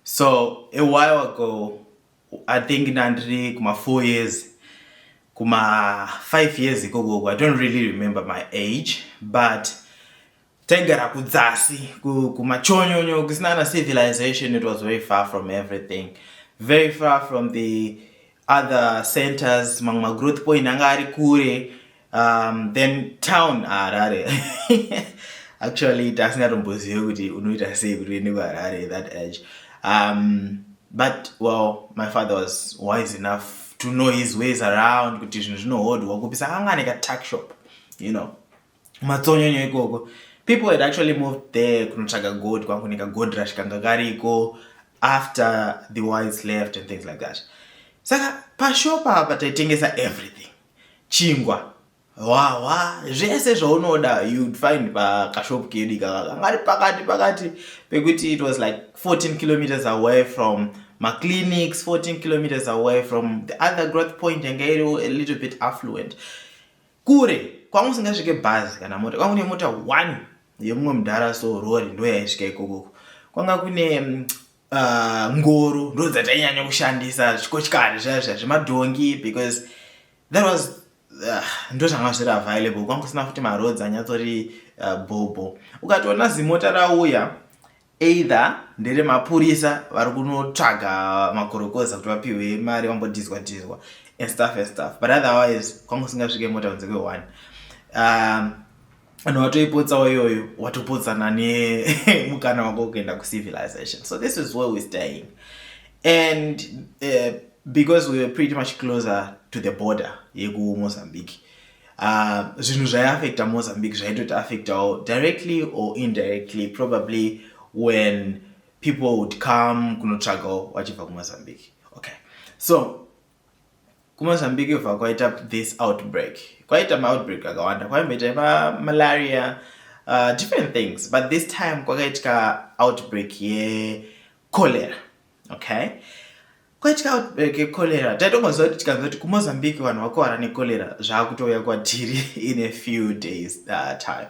so a while ago i think ndandiri kuma four years kuma five years ikokoko i don't really remember my age but taigara kudzasi kumachonyonyo kusina na civilization it was very far from everything very far from the other centers mamwe magrowth point anga ari kure um, then town harare actually tasingatombozive kuti unoita sei kuti uende kuharare that edge um, but well my father was wise enough to know his ways around kuti zvinhu zvinohodhwa kupisa anga ane katuck shop you know matsonyonyo ikoko people had actually moved there kunotsvaga god kwangu nekagod rush kanga kariko after the wise left and things like that saka pashopa apa taitengesa everything chingwa hwahwa zvese zvaunoda you'd find pakashop kedu ikaka kanga ri pakati pakati pekuti it was like 14 kilometers away from maclinics 14 kilometers away from the other growth point yanga iri a little bit affluent kure kwanga usingasvike bhazi kana mota kwanga kune mota one yemumwe mudhara so rori ndo yaisvika ikokoko kwanga kune mm, ah, ngoro uh, ndo dzatainyanya kushandisa zvikochikari zvaya zvaya zvemadhongi because that was uh, ndo zvanga zviri available kwanga kusina futi maroads anyatsotori uh, ah, bhobho ukatoona zimota rauya either ndere mapurisa vari kunotsvaga makorokoza kuti vapihwe mari vambodhizwa dhizwa and stuff and stuff but otherwise kwanga usingasvike mota kunze kweone um, vanhu vatoipotsawo iyoyo watopotsana nemukana wako kuenda kucivilization so this is where we staying and uh, because we were pretty much closer to the border yekumozambique uh, zvinhu zvaiaffecta mozambique zvaitoti affectawo directly or indirectly probably when people would come kunotsvagawo vachibva kumozambique okay so kumozambique bva kwaita this outbreak kwaita maoutbreak akawanda kwaimboita malaria uh, different things but this time kwakaitika outbreak yecholera yeah, okay kwatya outbreak yecholera taitongoziva kuti tikanzwa kuti kumozambique vanhu vakuvara necholera zvaakutouya kwatiri in a few days uh, time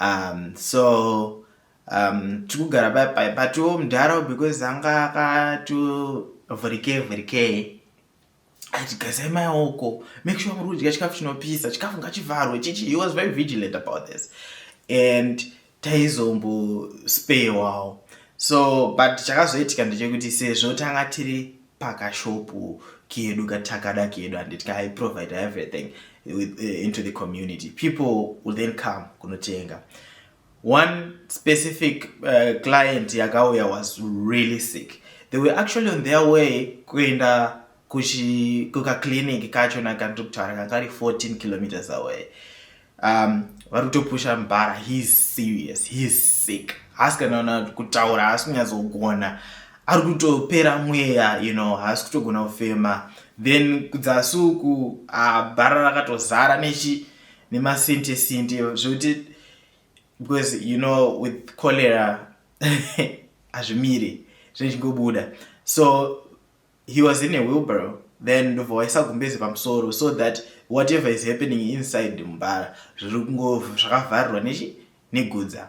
um, so um, tikugara paipa patiwo mudhara because anga akatovhurikei vhurikei aiti gazai maoko make sure muri kudya chikafu chinopisa chikafu ngachivharwe chichi he was very vigilant about this and taizombo spewawo so but chakazoitika ndechekuti sezvo tanga tiri pakashopu kedu katakada kedu handiti kaiprovide everything with, uh, into the community people will then come kunotenga One specific uh, client yakauya was really sick. They were actually on their way kuenda kukaclinic kacho nakandokutara kakari 14 kilometers away. Um, vari kutopusha mbara heis serious heis sick haasi kanaona kutaura haasi kunyatsogona ari kutopera mweya you know haasi kutogona kufema then kudzasuku bhara rakatozara nechi nemasinte sinte zvekuti because you know with cholera hazvimiri zvichingobuda so he was in a wheelbarrow then ndobva waisa gumbezi pamusoro so that whatever is happening inside mumbara zviri kungo zvakavharirwa nechi negudza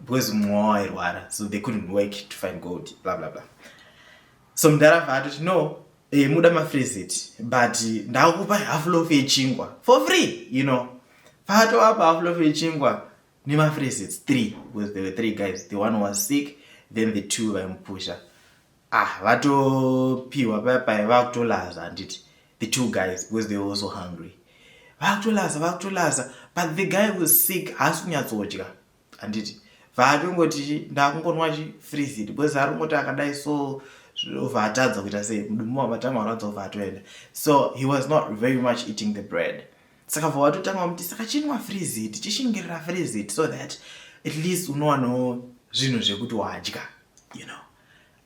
because mumwe wairwara so they couldn't work to find gold bla bla bla so mudhara vaatoti no eh, muda mafrezit but ndakupa half lof yechingwa for free you know vaatowapa half lof yechingwa nemafrezits three because there were three guys the one was sick then the two vaimupusha ah vatopiwa paya paya vakutolaza handiti the two guys because they were also hungry vakutolaza vakutolaza but the guy was sick haasi kunyatsodya handiti vaatongoti ndakungonwa chi freezit because ari kungoti akadai so zvova atadza kuita sei mudumu wamatama arwadza ova atoenda so he was not very much eating the bread saka vova atotanga vamuti saka chinwa freezit chishingirira freezit so that at least unowanawo zvinhu zvekuti wadya you know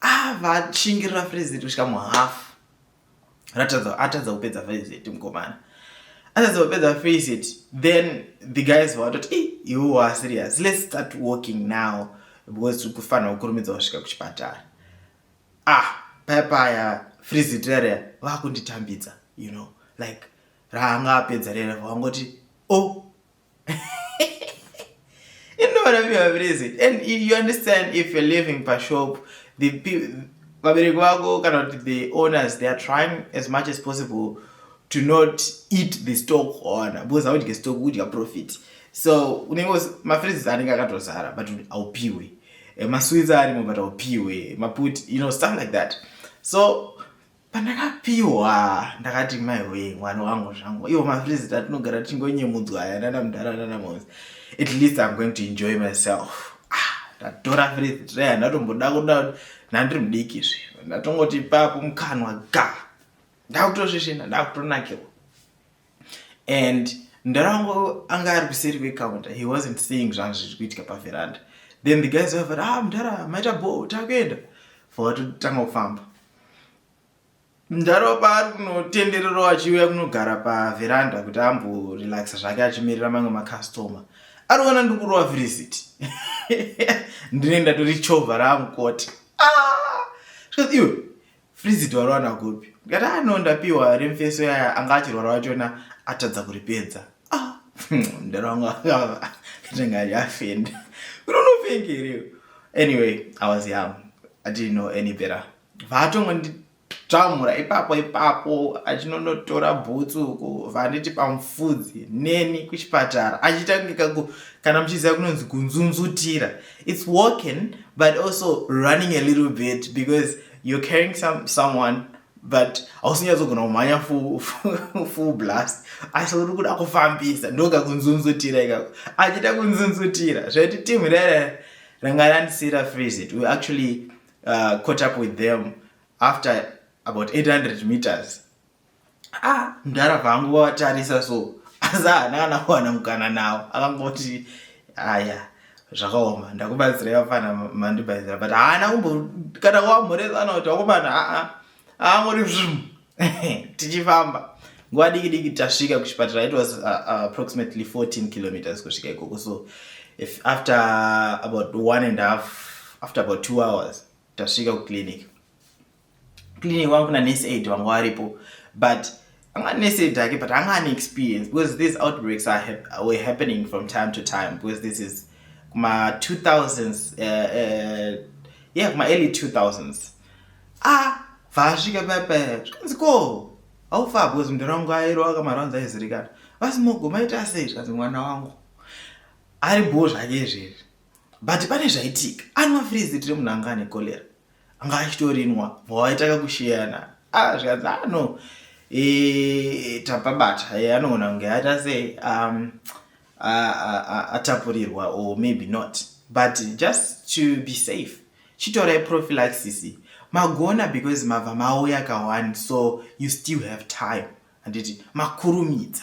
avashingirira ah, freezit kusvika muhafu atadza kupedza visit mukomana atadza kupedza visit then the guys vatoti e iwo wa serious let's start walking now because tiri kufanira kukurumidza kusvika kuchipatara ah paya paya friziteria vakunditambidza you know like raanga apedza rere vangoti o oh, inorapiwa vabereki and you understand if you're living pashop the vabereki vako kana kuti the owners they are trying as much as possible to not eat the stock ona because audye stock udya profit so unenge mafreezes anenge akatozara but aupiwe eh, masweets arimo but aupiwe maput you know stuff like that so pandakapiwa ndakati maiwee mwana wangu zvangu ivo mapresida atinogara tichingonyemudzwa aya nana mudhara nana mose at least im going to enjoy myself ndatora frizitreya ndatomboda kuda nandiri mudiki zve ndatongoti papo mukanwa ga ndakutosvisvina ndakutonakirwa and mdara wangu anga ari kuseri kwecounter he wasn't seeing zvanga zviri kuitika paveranda then the guys vavati ah mdara maita bho takuenda fowatotanga kufamba mdara paari kunotenderero achiuya kunogara paveranda kuti amborelaxa zvake achimirira mamwe macustomer ari kuona ndiri kurova visit ndine ndatori chovha raamukoti ah! iwe Frizit wariwana kupi? Ndikati ah no ndapiwa remfeso yaya anga achirwara wachona atadza kuripedza. Ah, mdara wangu akava katanga yafenda. Unonopenga here? Anyway, I was young. I didn't know any better. Vatongo ndi tamura ipapo ipapo achinonotora bhutsu uko vanditi pamufudzi neni kuchipatara achitangika ku kana muchiziva kunonzi kunzunzutira its walking but also running a little bit because you're carrying some, someone but hausinyadzogona kumhanya full blast asi uri kuda kufambisa ndoga kunzunzutira ikako achida kunzunzutira zvaiti team rere ranga randisira visit we actually uh, caught up with them after about 800 meters ah mdhara vangu wavatarisa so asi haana kana kuwana mukana nawo akangoti aya zvakaoma ndakubatsirai vafana mandibatsira but haana kumbo kana wamhoresana kuti vakomana aa aangoti zvim tichifamba nguva diki diki tasvika kuchipatara it was uh, uh, approximately 14 kilometers kusvika ikoko so if after about one and half after about two hours tasvika kuclinic clinic wangu kuna nurse aid vanga varipo but anga nurse aid ake but anga ane experience because these outbreaks are hap were happening from time to time because this is kuma 2000s uh, uh, yeah kuma early 2000s ah vasvika papa zvikanzi ko haufa because mndu rangu airova kamaranzi aizirikana vasi mogo maita sei zvikanzi mwana wangu ari boo zvake izvezvi but pane zvaitika anwa frizi tiri munhu anga ane cholera anga achitorinwa bva waitanga kusheyana ah zvikanzi ah no e, e, tapabata e, anoona kunge aita sei um, atapurirwa or maybe not but just to be safe chitorai prophylaxis magona because mabva mauya kawani so you still have time handiti makurumidza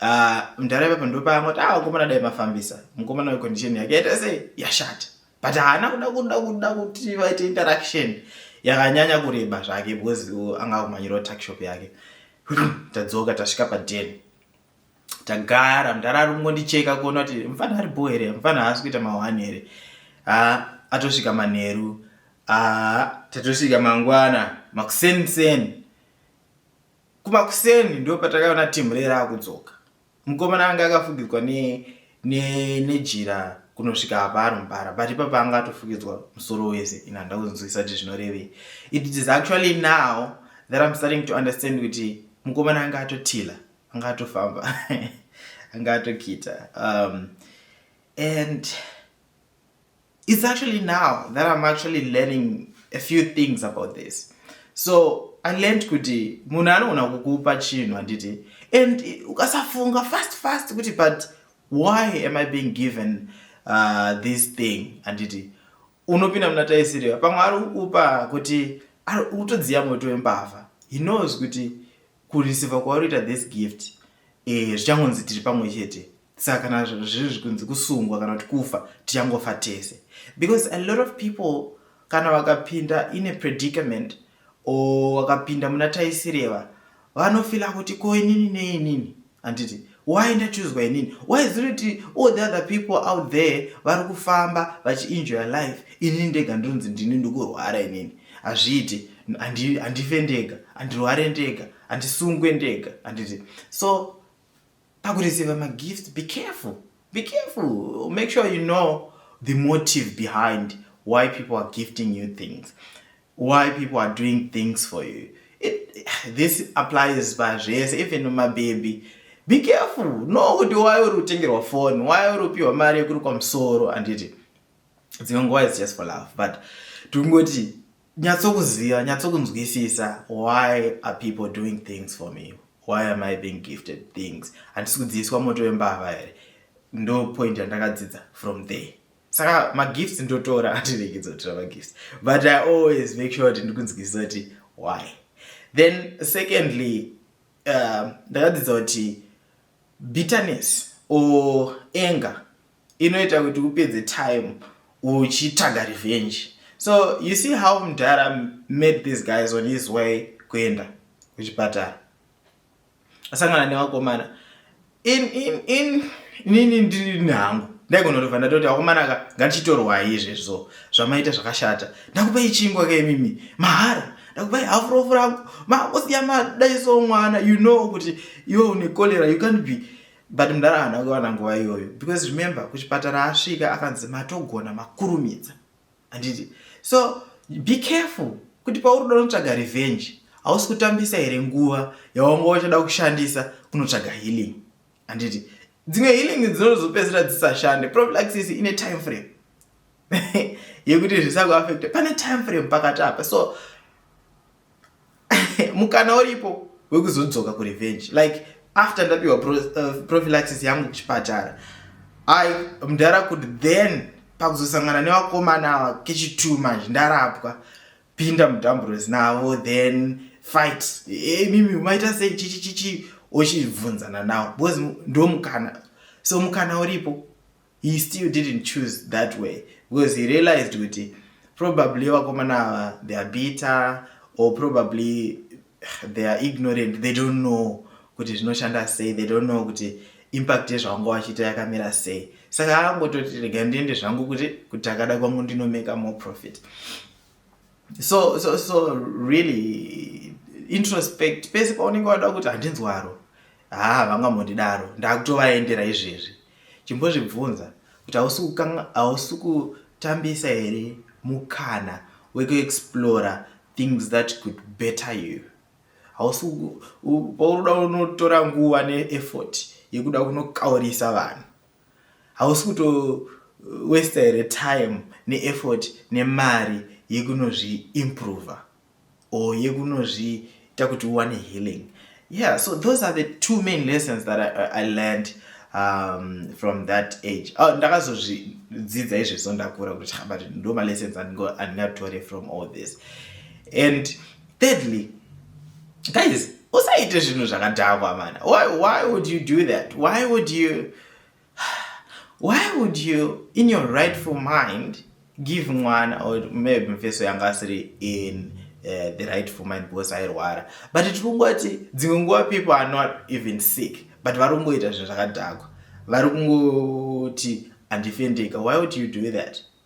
Ah, mdhara ipapo ndopaangoti ah mukomana dai mafambisa mukomana wecondition yake yaita sei yashata but haana kuda kuda kuda kuti vaite interaction yakanyanya kureba zvake because anga akumanyirawo tuckshop yake tadzoka tasvika paden tagara mdhara ari kungondicheka kuona kuti mfana ari bho here mfana haasi kuita mahwani here ah, atosvika manheru ah, tatosvika mangwana makuseniseni Kumakuseni ndipo patakaona Timurere akudzoka. Mukomana anga akafugidzwa ne ne nejira kunosvika apa ari mubara but ipapa anga atofugidzwa musoro wese ini handina kunzwisisa kuti zvinorevei. It is actually now that I'm starting to understand kuti mukomana anga atotila anga atofamba anga atokita um, and It's actually now that I'm actually learning a few things about this. So I learned kuti munhu anogona kukupa chinhu handiti and ukasafunga fast fast kuti but why am I being given uh, this thing handiti unopinda muna taisiriva pamwe ari kukupa kuti utodziya moto wembavha he knows kuti kurisivha kwauri ita this gift eh, zvichangonzi tiri pamwe chete saka kana zviri zvikunzi kusungwa kana kuti kufa tichangofa tese because a lot of people kana vakapinda in a predicament or vakapinda muna taisireva vanofila kuti ko inini neinini handiti why ndachuzwa inini why is it kuti all the other people out there vari kufamba vachienjoya life inini ndega ndinonzi ndini ndikurwara inini hazviiti handife ndega handirware ndega handisungwe ndega handiti so pakureceiva magift be careful be careful make sure you know the motive behind why people are gifting you things why people are doing things for you It, this applies pazvese even mababy be careful no kuti why uri kutengerwa phone why uri kupiwa mari yekurukwa musoro handiti dzimwe nguva is just for love but tikungoti nyatsokuziva nyatsokunzwisisa why are people doing things for me why am i being gifted things handisi kudziiswa moto wembavha here ndo point yandakadzidza from there saka magifts ndotora andiregedza kutora magifts but i always make sure kuti ndikunzwisisa kuti why then secondly uh, ndakadzidza kuti bitterness or anger inoita kuti upedze time uchitsvaga revenge so you see how mdhara made these guys on his way kuenda kuchipatara asangana nevakomana in in in nini ndiri nehangu ndaigonotobva ndatoti vakomana ka ngandichitorwai izvezvo zvamaita zvakashata ndakupei chingwa kemimi mahara ndakupai hafurofu rangu makosiya madaiso mwana you know kuti iwe une cholera you can't be but mdara haana kuwana nguva iyoyo because remember kuchipatara asvika akanzi matogona makurumidza handiti so be careful kuti pauri uda unotsvaga revenge hausi kutambisa here nguva yawanga wachada kushandisa kunotsvaga healing handiti dzimwe healing dzinozopedzisira dzisashande prophylaxis ine time frame yekuti zvisakuaffecta pane time frame pakati apa so mukana uripo wekuzodzoka kurevenge like after ndapiwa pro, uh, prophylaxis yangu kuchipatara i mdara kuti then pakuzosangana nevakomana ava kechitu manje ndarapwa pinda mudamburos navo then fight hey, mimi umaita sei chichichichi ochibvunzana nawo because ndomukana so mukana uripo he still didn't choose that way because he realized kuti probably vakomana ava they are bitter or probably they are ignorant they don't know kuti zvinoshanda sei they don't know kuti impact yezvavanga vachiita yakamira sei saka angototi rega ndiende zvangu kuti kuti akada kwangu ndinomeka more profit so so so really introspect pese paunenge wada kuti handinzwaro Haa havangambondidaro ndakutovaendera izvezvi. Chimbozvibvunza kuti hausi kukanga hausi kutambisa here mukana wekuexplora things that could better you. Hausi ku- u- paunoda unotora nguva neeffort yekuda kunokaurisa vanhu. Hausi kuto uh, waster here time neeffort nemari yekunozviimprover. or yekunozviita kuti uwane healing yeah so those are the two main lessons that i, I learned um, from that age oh, ndakazozvidzidza izvezvo ndakura kuti but ndo malessons andingatore from all this and thirdly guys usaite zvinhu zvakadhakwa mana why, why would you do that why would you Why would you in your rightful mind give mwana or maybe mfeso yanga asiri in Eh, the right for mind because airwara but tiri kungoti dzimwe nguva people are not even sick but vari kungoita zvinhu zvakadhakwa vari kungoti handifendeka why would you do that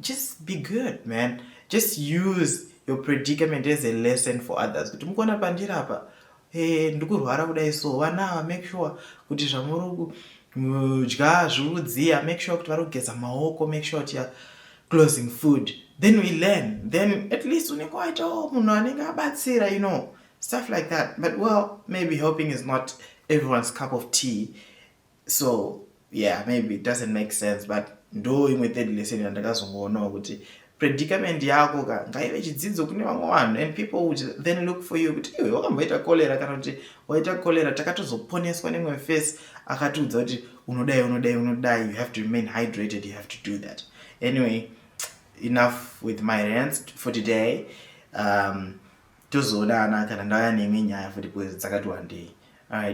just be good man just use your predicament as a lesson for others kuti mukuona pandiri apa hey, eh, ndikurwara kudai so vana ava make sure kuti zvamuri kudya zviudziya make sure kuti vari kugeza maoko make sure kuti closing food then we learn then at least unenge waitawo oh, munhu anenge abatsira you know stuff like that but well maybe helping is not everyone's cup of tea so yeah maybe it doesn't make sense but ndo imwe third lesson yandakazongoonawo kuti predicament yako ka ngaive chidzidzo kune vamwe vanhu and people would then look for you kuti iwe wakamboita cholera kana kuti waita cholera takatozoponeswa nemwe face akatiudza kuti unodai unodai unodai you have to remain hydrated you have to do that anyway enough with my rants for today um, tozoonana kana ndauya neimwe nyaya futi bcause dzakati wandei alright